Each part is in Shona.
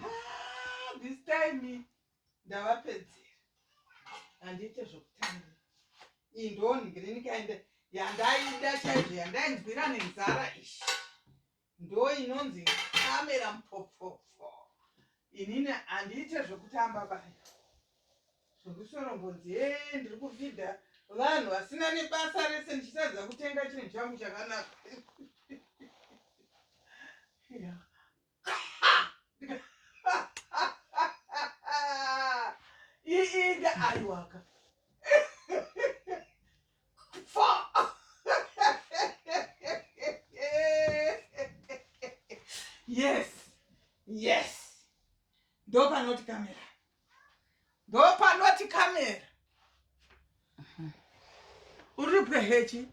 ah, this time ndavapedzera handiite zvokutanga iyi ndonhingirininikaende yandaida chaizvo yandainzwira nenzara ishi ndo inonzi kamera mupopopfo inini handiite zvokutamba baya Zvekusoro mbonzi yee ndiri kufidha vanhu vasina nebasa rese ndichitadza kutenga chinhu changu chakanaka. Yeah. iinda aiwaka yes yes ndopanoti kamera ndopanoti kamera uri pwehechi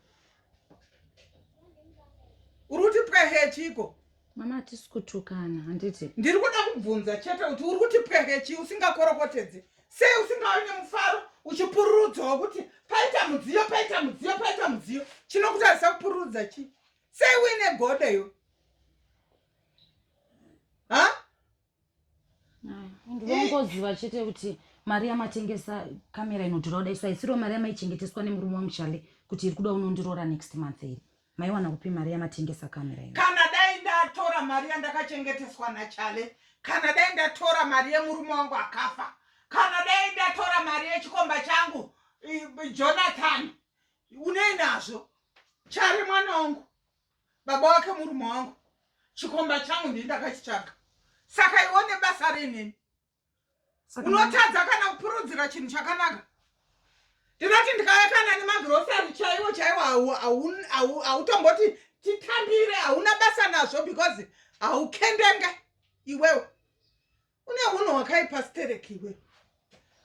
uri kuti pwehechiko mama hatisi kutukana handiti ndiri kuda kubvunza chete kuti uri kuti pwehechi usingakorokotedze sei usingawe nemufaro uchipururudzawo kuti paita mudziyo paita mudziyo paita mudziyo chinokutarisa kupururudza chii sei uine godo iwe ha ndongoziva chete kuti mari yamatengesa kamera inodhura kudai so haisiro mari yamaichengeteswa nemurume wangu chale kuti iri kuda unondiroora next month iri maiwana kupi mari yamatengesa kamera ino kana dai ndatora mari yandakachengeteswa nachale kana dai ndatora mari yemurume wangu akafa kana dai ndatora mari yechikomba changu jonathan unei nazvo chari mwana wangu baba wake murume wangu chikomba changu ndini ndakachitsvaga saka iwe une basa reneni unotadza kana kupurudzira chinhu chakanaka ndinoti ndikauya kana nemagrosari chaiwo chaiwo hautomboti titambire hauna basa nazvo because haukendenge iwewe une hunhu hwakaipa stereki iwe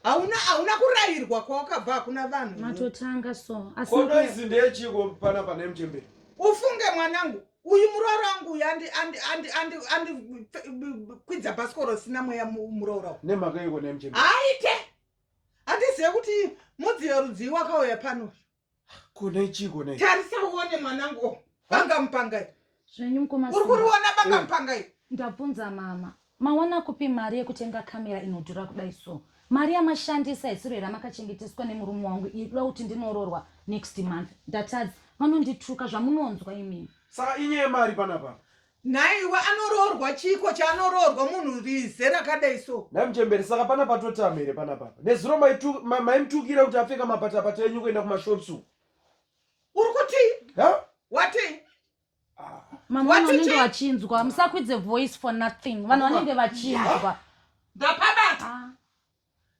hauna hauna kurayirwa kwawakabva hakuna vanhu matotanga so kodo izi ndeyechiko pana pane mchemberi ufunge mwanangu uyu muroora wangu uyu andikwidza bhasikoro sina mweya muroora nemhaka iko nemchemberi haite handizive kuti mudziyo rudzii wakauya pano kune chiko ne tarisa uone mwanangu oh, banga mupangai zvenyu mukoma uri kuriona banga mupangai ndabvunza mama mawana kupi mari yekutenga kamera inodhura kudai so mari yamashandisa isiro here amakachengeteswa nemurume wangu ikuda kuti ndinororwa next month ndatadza vanondituka zvamunonzwa imini saka inyaya yemari panapa Nhaiwa anoroorwa chiiko chaanoroorwa munhu rize rakadai so. Nhai muchembere saka pana patotama here pana papa. Nezuro maimutukira ma, kuti apfeka mapatapata enyu kuenda kumashops uku. Uri kuti? Ha? Wati? Ah. Mama vanenge vachinzwa musakwidze voice for nothing vanhu vanenge vachinzwa ndapabata ah.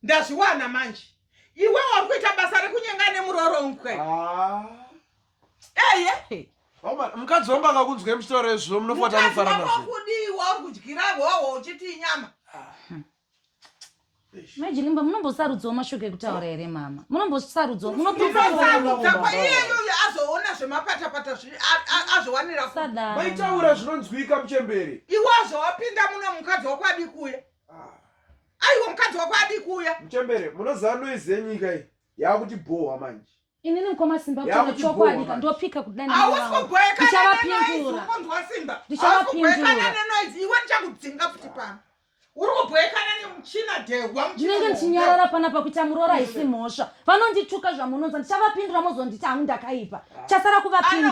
ndazviwana manje iwe wari kuita basa rekunyenga nemuroronkwe ah. eye hey, mukadzi wangu akakunzwa muchitaura izvo munofata anofara nazvokudiwa kudyira hoho uchiti inyama imajini mba munombosarudzawo mashoko ekutaura here mama munombosarudzawo munoiyeyoyo azoona zvemapatapata azviwanira maitaura zvinonzwika muchemberi iwe azowapinda muno mukadzi wakwadi kuye aiwa mukadzi wako adii kuuya muchembere munoziva noise yenyika iyi yaakuti bhohwa manje inini mukoma simba kutanga chokwadi ndopika kudanaiwavapindura ndinenge ndichinyarara pana pakuita muroora haisi mhosva vanondituka zvamunonza ndichavapindura mozonditi hangu ndakaipa chasara kuvapindura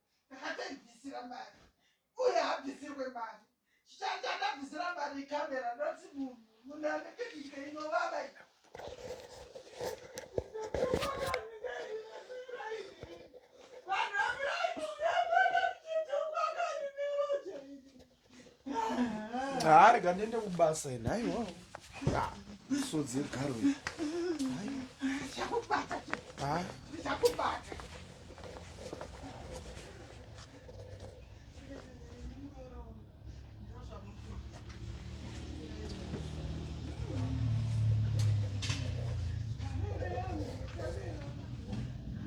ndakatoibvisira mari uye habvisirwe mari chichange andabvisira mari camera not munhu munhu anenge nyika inovava i Ah, rega ndiende kubasa ini aiwa sodzi yegaro iyi Ah.